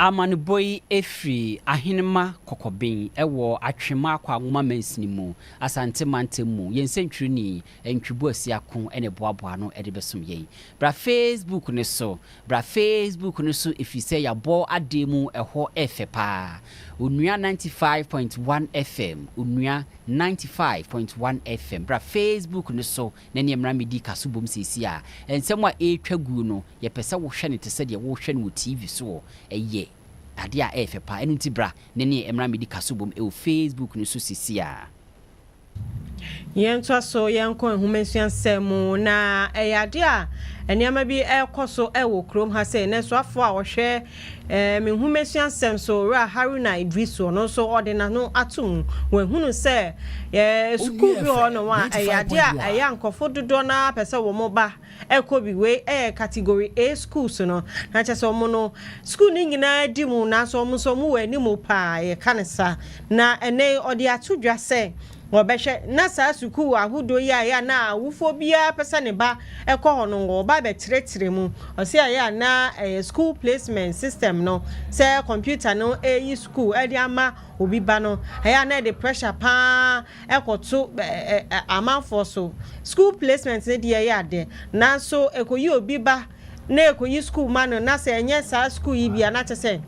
Amanebɔ yi firi Ahenemma Kɔkɔben wɔ Atwem Akwaagoma Mansini mu, Asante Mantam mu. Yɛn sɛntwerɛni, Ntwibu Asiako na ɛboaboa ano de bɛsom yɛn. Bra Facebook no so, Bra Facebook no so ɛfiri sɛ yɛabɔ adeɛ mu, ɛhɔ yɛ fɛ pa ara. Onua ninety five point one FM, Onua ninety five point one FM, Bra Facebook no so na ɛneɛ mmra mmɛdi ka so bom seesei a. Nsɛm a ɛretwa guo no, yɛpɛ sɛ wohwɛ no te sɛ deɛ worehwɛ no wɔ TV so o. Ɛyɛ adeɛ a ɛyɛ fɛ paa. Ɛno nti bra na ɛneɛ mmra mmɛdi ka so bom wɔ Facebook no so seesei ara. Yɛntoa so yɛnkɔ nwoma nsua nsɛm mu. Na ɛyɛ adeɛ a nneɛma bi rekɔ so wɔ kurom ha sei, nanso afoa a ɔhwɛ Ɛɛ me nhomasua sɛm so Owura Haruna Idrisu ɔno nso ɔde n'ano ato mu wahunu sɛ ɛɛ sukuu bi wɔ hɔ nom a ɛyɛ adeɛ a ɛyɛ a nkorɔfoɔ dodoɔ no ara pɛ sɛ wɔn ba ɛkɔ bi wei ɛyɛ category A schools no na kyɛ sɛ wɔn no sukuu no nyinaa di mu nanso wɔn nso wɔn wɔ anim paa yɛka no saa na ɛnɛ yi ɔde ato dwa sɛ Wɔbɛhwɛ na saa sukuu ahodoɔ yi a ɛyɛ a na awofoɔ biara pɛ sɛ ne ba kɔ hɔ no, wɔba bɛkyerɛkyerɛ mu. Ɔse ɛyɛ a na ɛyɛ school placement system no, sɛ computer no reyi sukuu de ama obi ba no, ɛyɛ a na ɛde pressure pa ara kɔto amanfoɔ so. School placement no deɛ ɛyɛ adɛ, nanso ɛkɔyi obi ba na ekoyi sukuu ma no na sɛ ɛnyɛ saa sukuu yi bi a na kyɛ sɛ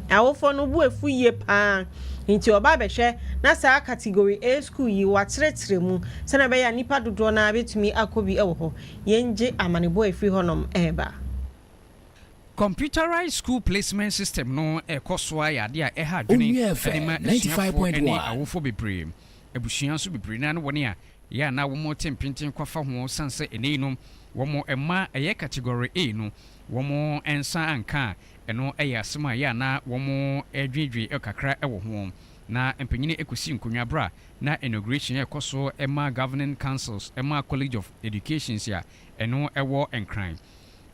awofoɔ no bo afu yie pa ara nti ɔba abɛhwɛ na saa category A sukuu yi wɔakyerɛkyerɛ mu sɛdeɛ ɛbɛyɛ a nnipa dodoɔ no ara bɛtumi akɔ bi wɔ hɔ. Yɛngye amanebɔ a ɛfiri hɔnom reba. Computerised School Placement System no rekɔ so ara yɛ adeɛ a ɛha adwene de ma asuafoɔ ne awofoɔ bebree. Abusua nso bebree no ara ne wɔn a Yɛ a na wɔte mpenten kwafa ho sane sɛ ɛnnɛ yi no wɔn mma ɛyɛ category A no wɔn nsa anka a, ɛno yɛ asɛm a yɛ a na wɔdwendwen kakra wɔ ho. Na mpanyini kɔsi nkonnwa berɛ a na inauguration rekɔ so ma Governing Councils ma College of Educations a ɛno wɔ Nkran.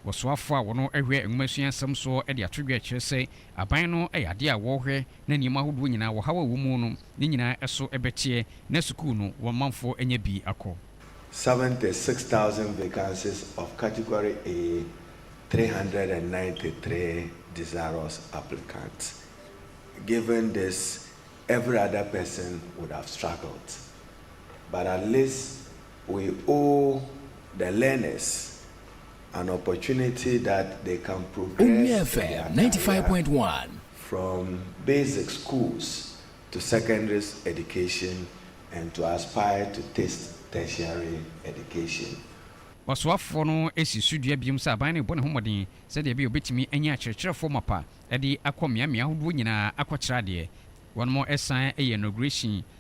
Ɔsoafo a ɔno hwɛ nwomasua nsɛm soɔ de ato dwa kyerɛ sɛ aban no yɛ adeɛ a wɔhwɛ na nneɛma ahodoɔ nyinaa, ɔhaw a ɛwɔ mu no, ne nyinaa so bɛteɛ na sukuu no wɔn manfoɔ anya bi akɔ. Seventy six thousand vacancies of Category A, three hundred and ninety three desirous applicants, given this every other person would have struggled but at least we owe the learners an opportunity that they can progress in their career from basic schools to secondary education and to aspire to test tertiary education. Ɔsoafoɔ no si so dua bio sɛ aban no rebɔ ne ho mmɔden sɛdeɛ ɛbɛyɛ a ɔbɛtumi anya akyerɛkyerɛfoɔ mapa de akɔ mmeammea ahodoɔ nyinaa akɔkyerɛ adeɛ. Wɔsan yɛɛ inauguration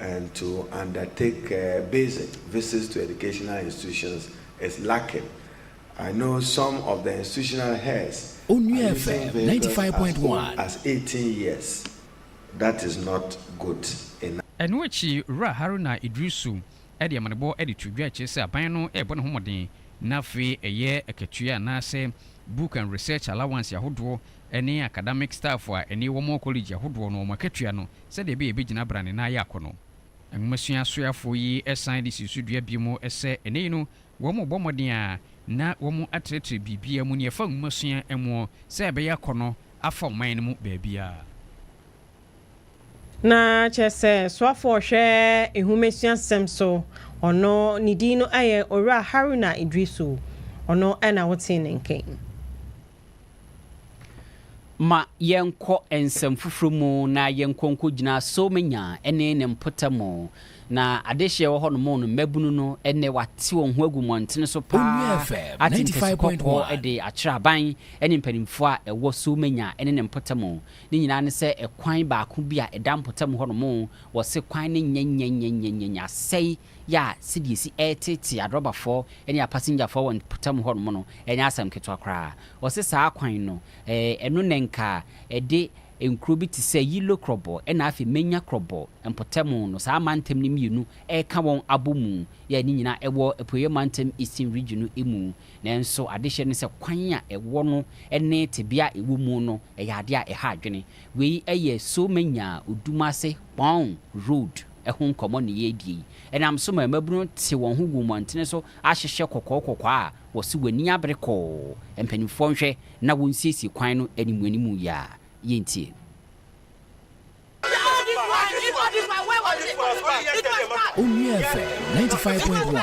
and to undertake visit visits to educational institutions is lacking, I know some of the institutional heads are using vehicles as old as eighteen years, that is not good enough. Ɛno akyi, Owura Haruna Iddrisu de amanebɔ de too dwa kyerɛ sɛ aban no rebɔ ne ho mmɔden na afei ɛyɛ akatua anaasɛ book and research allowance ahodoɔ ne acadamic staff a ɛne wɔn wɔ kɔlege ahodoɔ no wɔn akatua no sɛdeɛ ɛbɛyɛ ɛbɛgyina bra ne nan yɛ akɔ no. Nwomasua soafoɔ yi san de sii so dua bio mu sɛ ɛnnɛ yi no wɔn rebɔ mmɔden ara na wɔn atrɛtrɛ biribiara mu nea ɛfa nwomasua moɔ sɛ ɛbɛyɛ akɔ no afa ɔman no mu baabiara. Na kyerɛ sɛ soafoɔ a ɔhwɛ nwomasua-sɛm so ɔno ne din no yɛ Owura Haruna Idrisu, ɔno na wotee ne nka yi. Ma yɛnkɔ nsɛm foforo mu na yɛnkɔ nkogyina Soomenya ne ne mpɔtam. Na adehye a ɛwɔ hɔnom no, mmabunu no nnɛ wɔate wɔn ho agu mmɔntene so paa ate ntasi kɔkɔɔ de akyerɛ aban ne mpanimfoɔ a ɛwɔ Soomenya ne ne mpɔtam. Ne nyinaa ne sɛ ɛkwan baako bi a ɛda mpɔtam hɔnom, wɔse kwan no nyɛnyɛnyɛnyɛnyɛnyɛ asɛe yɛ a sɛdeɛ ɛsi teetee adrɔbafɔɔ ne apasengyafɔɔ wɔ mpɔtam hɔ nom no nyɛ asɛm ketewa koraa. Ɔse saa kwan no ɛno na nka ɛde nkuro bi te sɛ Yilo Krɔbɔ na afei Menya Krɔbɔ mpɔtam no saa mantam no mmienu ɛka wɔn abɔ mu yɛ a ne nyinaa ɛwɔ Apueɛ Mantam Eastern Region no mu. Nanso adehyeɛ no sɛ kwan a ɛwɔ no ne tebea a ɛwɔ mu no ɛyɛ adeɛ a ɛha adwene. Wei yɛ Somenya Odumase Kpong Road. ho nkɔmmɔ na yɛredi yi. Ɛnam so ma mmabunu no te wɔn ho gu mmɔntene so ahyehyɛ kɔkɔɔ kɔkɔɔ a wɔse w'ani abere kɔɔ, mpanimfoɔ nhwɛ na wɔnsiesie kwan no animuanimu yi a. Yɛntie. Onua FM ninety five point one.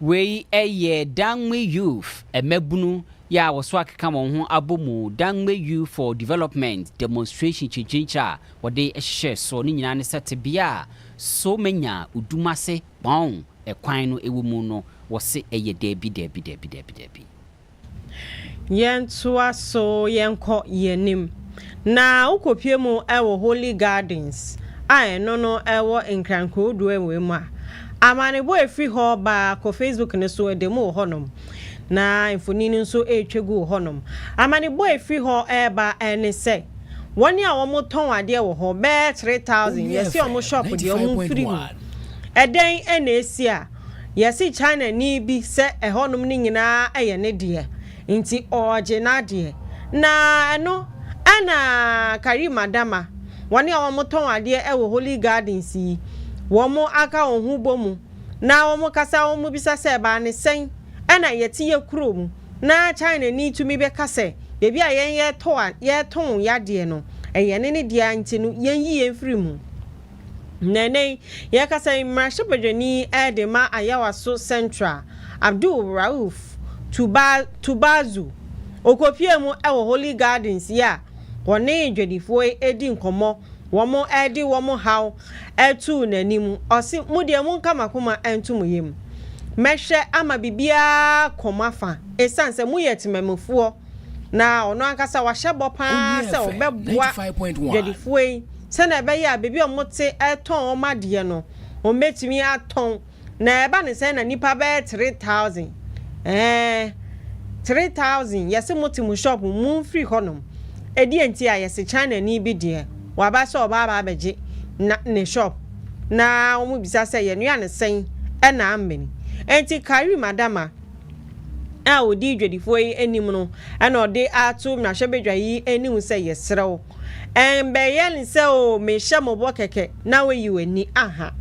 Wei yɛ Dangme Youth, Mmabunu yɛ a wɔso akeka wɔn ho abɔ mu, Dangme Youth for Development demonstration kyinkyirinkyire a wɔde hyehyɛɛ soɔ. Ne nyinaa ne sɛ tebea a So manya Odumase Kpong kwan no wɔ mu no, wɔse ɛyɛ daabi, daabi, daabi, daabi, daabi. Yɛntoa so, yɛnkɔ yɛn anim, na wokɔpue mu wɔ Holy Gardens a ɛno no ɛwɔ Nkran Kurow du wei mu a, amanebɔ a ɛfiri hɔ ba kɔ Facebook no so ɛda mu wɔ hɔnom, na mfonin no nso ɛretwa gu wɔ hɔnom. Amanebɔ a ɛfiri hɔ reba ne sɛ, wɔn a wɔtɔn adeɛ wɔ hɔ bɛyɛ 3000, yɛse wɔn shop deɛ wɔmfiri mu. Ɛdɛn na ɛresi a? Yɛse Chinani bi sɛ ɛhɔnom no nyinaa yɛ ne deɛ, nti ɔɔgye n'adeɛ. Na ɛno ɛna Kareem Adama, wɔn a wɔtɔn adeɛ wɔ Holy Gardens yi, wɔn aka wɔn ho bɔ mu na wɔn kasa wɔn bisa sɛ ɛbaa ne sɛn ɛna yɛte yɛ kuro mu na Chinani tumi bɛka sɛ baabi a yɛn yɛtɔ a yɛtɔn yɛ adeɛ no ɛyɛ ne ne deɛ nti no yɛnyi yɛn mfiri mu. Na ɛnnɛ yi, yɛrekasa yi, mmarahyɛbadwani de ma Ayawaso Central, Abdul Rauf Tubazu, ɔkɔpuee mu wɔ Holy Gardens yi a wɔne dwadifoɔ yi redi nkɔmmɔ, wɔde wɔn haw too n'anim. Ɔse, Mo deɛ monka m'akoma nto mo yam. Mɛhwɛ ama biribiara akɔ mo afa, ɛsiane sɛ moyɛ temanmufoɔ. na ɔno ankasa wahyɛ bɔ paa sɛ ɔbɛboa dwadifoɔ yi sɛnea ɛbɛyɛ a baabi a wɔte retɔn wɔn adeɛ no wɔbɛtumi atɔn na ɛba ne sɛ na nnipa bɛyɛ three thousand ɛɛ three thousand yɛse mo te mo shop mu mfiri hɔnom ɛdeɛ nti a yɛse China ni bi deɛ waba sɛ ɔba aba abɛgye na ne shop na wɔn bisa sɛ yɛnua ne sɛn ɛna amene ɛnti Karim Adama a ɔdi dwadifoɔ yi anim no na ɔde ato mmarahyɛbadwa yi anim sɛ yɛsrɛ wo ɛmbɛyɛ ne sɛ o mehyɛ mɔbɔ kɛkɛ na woayi w'ani aha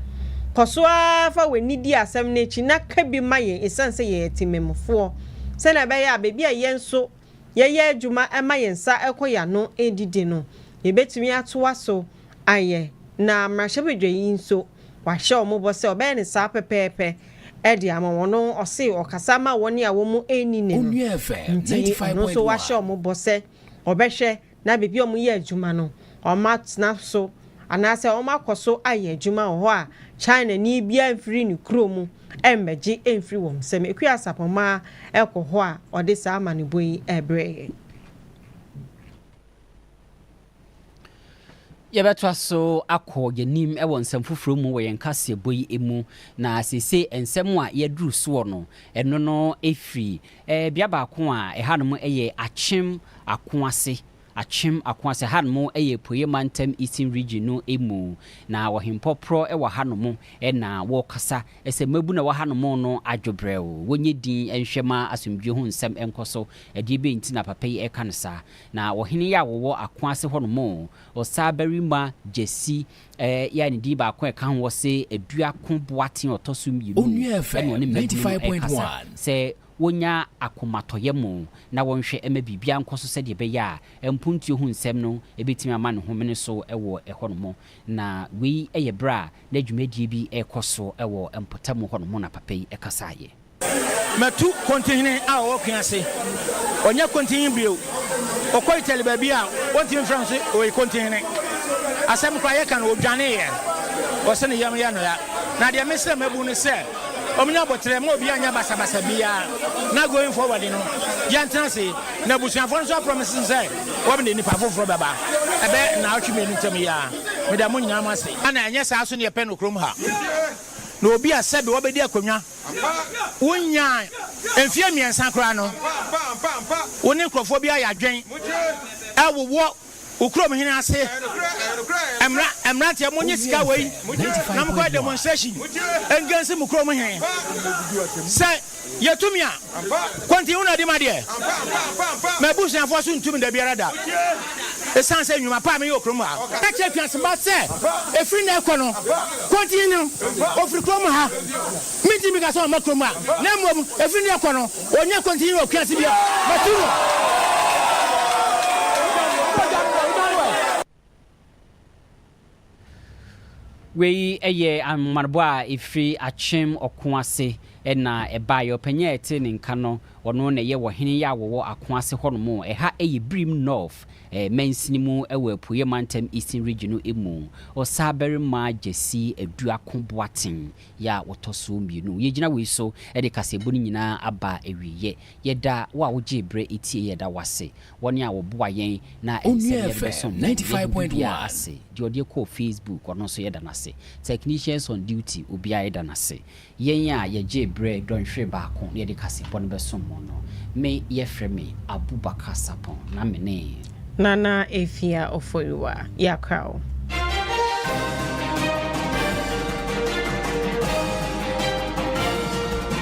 kɔ so ara fa w'ani di asɛm no akyi na ka bi ma yɛn ɛsiane sɛ yɛyɛ temammufoɔ sɛnea ɛbɛyɛ a baabi a yɛn nso yɛyɛ adwuma ɛma yɛn nsa ɛkɔ yɛn ano ɛdidi no yɛbɛtumi atoa so ayɛ na mmarahyɛbadwa yi nso Wahyɛ wɔn bɔ sɛ ɔbɛyɛ no saa pɛpɛɛpɛ de ama wɔn. Ɔse ɔkasa ma wɔn a wɔn anni ne no. Nti ɔno nso wahyɛ wɔn bɔ sɛ ɔbɛhwɛ na baabi a wɔyɛ adwuma no, wɔatena so anaasɛ wɔakɔ so ayɛ adwuma wɔ hɔ a Chinani biara mfiri ne kuro mu mmɛgye mfiri wɔn nsam. Akua Sapɔmaa kɔ hɔ a ɔde saa amanebɔ yi brɛɛ yɛn. Yɛbɛtoa so akɔ yɛn anim wɔ nsɛm foforɔ mu wɔ yɛn kaseɛbɔ yi mu, na seesei nsɛm a yɛaduru soɔ no, ɛno no firi eh, bea baako a ɛhanom yɛ Akyem Akoase, Akyem Akoase, ɛhanom yɛ Apueeɛ Mantam, Eastern Region, no mu, na Ɔhempɔporɔ wɔ hanom na wɔrekasa sɛ mmabunu a ɛwɔ hanom no adwo brɛoo, wɔnyɛ dinn nhwɛ ma asomdwoeɛ ho nsɛm nkɔ so. Ɛdeɛ bɛn nti na papa yi reka no saa? Na ɔhene yi a ɔwɔ ako ase hɔnom, ɔsabarima Jesse, ɛɛ, yɛ a ne din baako a ɛka ho wɔ se aduako boaten a ɔtɔ so mmienu mu, ɛne ɔne mmabunu no rekasa sɛ wɔnya akomatɔyɛ mo na wɔnhwɛ mma biribiara nkɔ so sɛdeɛ ɛbɛyɛ a mpontuo ho nsɛm no bɛtumi ama ne ho mene so wɔ hɔnom. Na wei yɛ berɛ a na dwumadie bi rekɔ so wɔ mpɔtam hɔnom na papa yi kasaeɛ. Matu Kontinhene a ɔwɔ Kwi ase. Ɔnyɛ Kontinhene bio. Ɔkɔ Italy baabi a wɔntumi mfrɛ no sɛ ɔyɛ Kontinhene. Asɛm koraa yɛka no, ɔdwaneeɛ. Ɔse ne yam yɛ no ya. Na deɛ mesrɛ mmabu ne sɛ wɔnya aboterɛ ma obiara nyɛ basabasa biara na going forward no yɛntena ase. Na abusuafoɔ no nso aprɔmise no sɛ wɔde nnipa foforɔ bɛba ɛbɛyɛ nnaawɔtwe mmienu ntam yi ara. Meda mo nyinaa mo ase. Ana ɛnyɛ saa nso na yɛpɛ no kurom ha? Na obi a sɛbe wabɛdi akonnwa. Ampa, wonnyaa mfeɛ mmiɛnsa koraa no, ampa, ampa, ampa, ampa, wo ne nkurɔfoɔ bi ayɛ adwen mogye, ɛwowɔ wo kurom hene ase, ɛyɛ nokorɛ, ɛyɛ nokorɛ, ɛyɛ nokorɛ, mmra, mmranteɛ monnye Owie sika wei nsɛ, mogye, na 95.1. monkɔyɛ demonstration mogye, ɛngansi mo kurom hene, ampa, sɛ yɛtumi a. Kɔntini na di m'adeɛ. M'abusuafoɔ nso ntu me da biara da ɛsiane sɛ nnwuma pa a meyɛ wɔ kurom ha. Ka kyerɛ afiase mma sɛ ɛfiri nnɛ rekɔ no, Kɔntini no, ɔfiri kurom ha. Menti mmirika sɛ ɔmma kurom ha, na mmom ɛfiri nnɛ rekɔ no, ɔnnya Kɔntini wɔ afiase bio. Matu no. Wei yɛ ahomammɔ a ɛfiri Akyem ɔko ase na ɛbaeɛ. Ɔpanin a ɛte ne nka no, ɔno na ɛyɛ ɔhene a wɔwɔ ako ase hɔnom. Ɛha yɛ Birim North mansini mu wɔ Apueɛ mantam, Eastern Region, no mu. Ɔsabarima Gyasi Aduako Boateng yɛ a ɔtɔ so mmienu. Yɛgyina wei so de kaseɛbɔ no nyinaa aba awieɛ. Yɛda wo a wogyee berɛ tieeɛ, yɛda wo ase. Wɔn a wɔboa yɛn na ɛnsɛ nea yɛde bɛsom na ɛyɛ hu bibiaa ase. Deɛ ɔde kɔɔ Facebook ɔno nso yɛda no ase. Technicians on duty obiaa yɛda no ase. Yɛn a yɛgyee berɛ dɔnhwere baako na yɛde kaseɛbɔ no bɛsom mo no. Me yɛfrɛ me Abubakar Sapon na me ne. Nana Afia Oforiwa. Yɛakra wo.